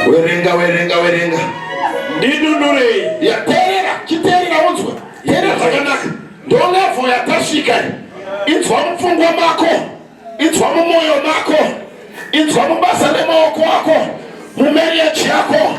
Werenga, werenga, werenga. Ndidunurei. Yaterera, chiterera unzwe. Terera zvakanaka. Ndolevo yatasvika. Inzwa mupfungwa mako. Inzwa mumoyo mako. Inzwa mubasa remaoko ako. Mumereji yako.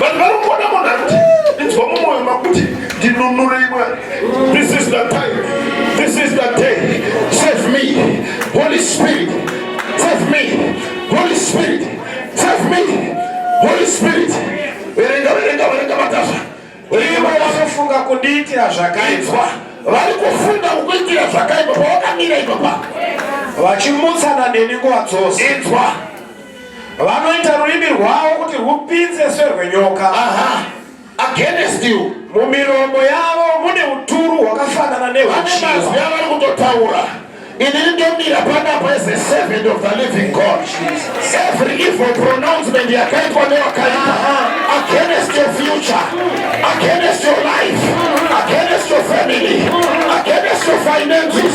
vanhu vari kuona munhu akuti inzwa mumwoyo makuti ndinunure imwe this is the time this is the day save me holy spirit save me holy spirit save me holy spirit verenga verenga verenga matasa ivo vanofunga kundiitira zvakaitwa vari kufunga kukuitira zvakaipa pawakamira ipapa vachimutsana neni nguva dzose inzwa Vanoita rurimi rwavo kuti rwupinze serwenyoka. Aha. Against you. Mumiromo yavo mune uturu hwakafanana nehwuchiva. Vane mazwi avari kutotaura. Inini ndomira panapa as a servant of the living God. Jesus. Every evil pronouncement yakaitwa newakaipa against your future, against your life, against your family, against your finances.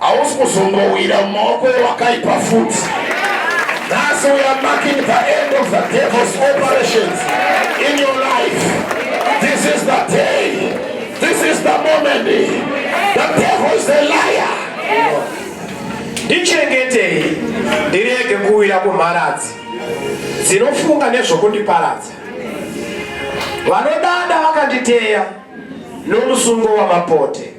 Hausi kuzombowira mumaoko ewakaipa futi. Nhasi we are marking the end of the devil's operations in your life. This is the day. This is the moment. The devil is a liar. Ndichengetei ndirege kuwira kumharadzi dzinofunga nezvokundiparadza. Vanodada vakanditeya nomusungo wamapote.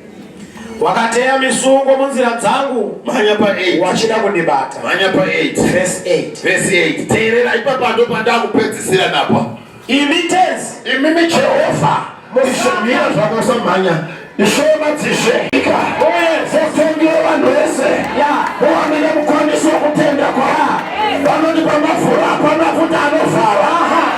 wakateya misungo munzira dzangu mhanya pa 8 wachida kundibata mhanya pa 8 verse 8 verse 8 teerera ipapa ndo pandakupedzisira napa imi tenzi imi mi Jehovha muzvimira zvakasamhanya ishoma dzizveka uye zvotongira vanhu vese muwanire mukwanisi wokutenda kwa vanoti pamafura pamafuta anovhara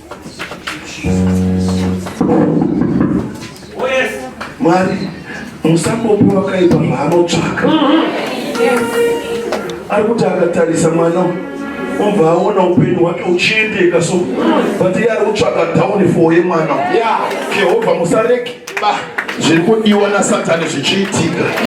Mwari musambopi wakaipa zvaanotsvaka ari kuti akatarisa mwana obva aona upenyu hwake uchiendeka so but iye ari kutsvaka downfall yemwana jehovha musareki ba zviri kudiwa nasatani zvichiitika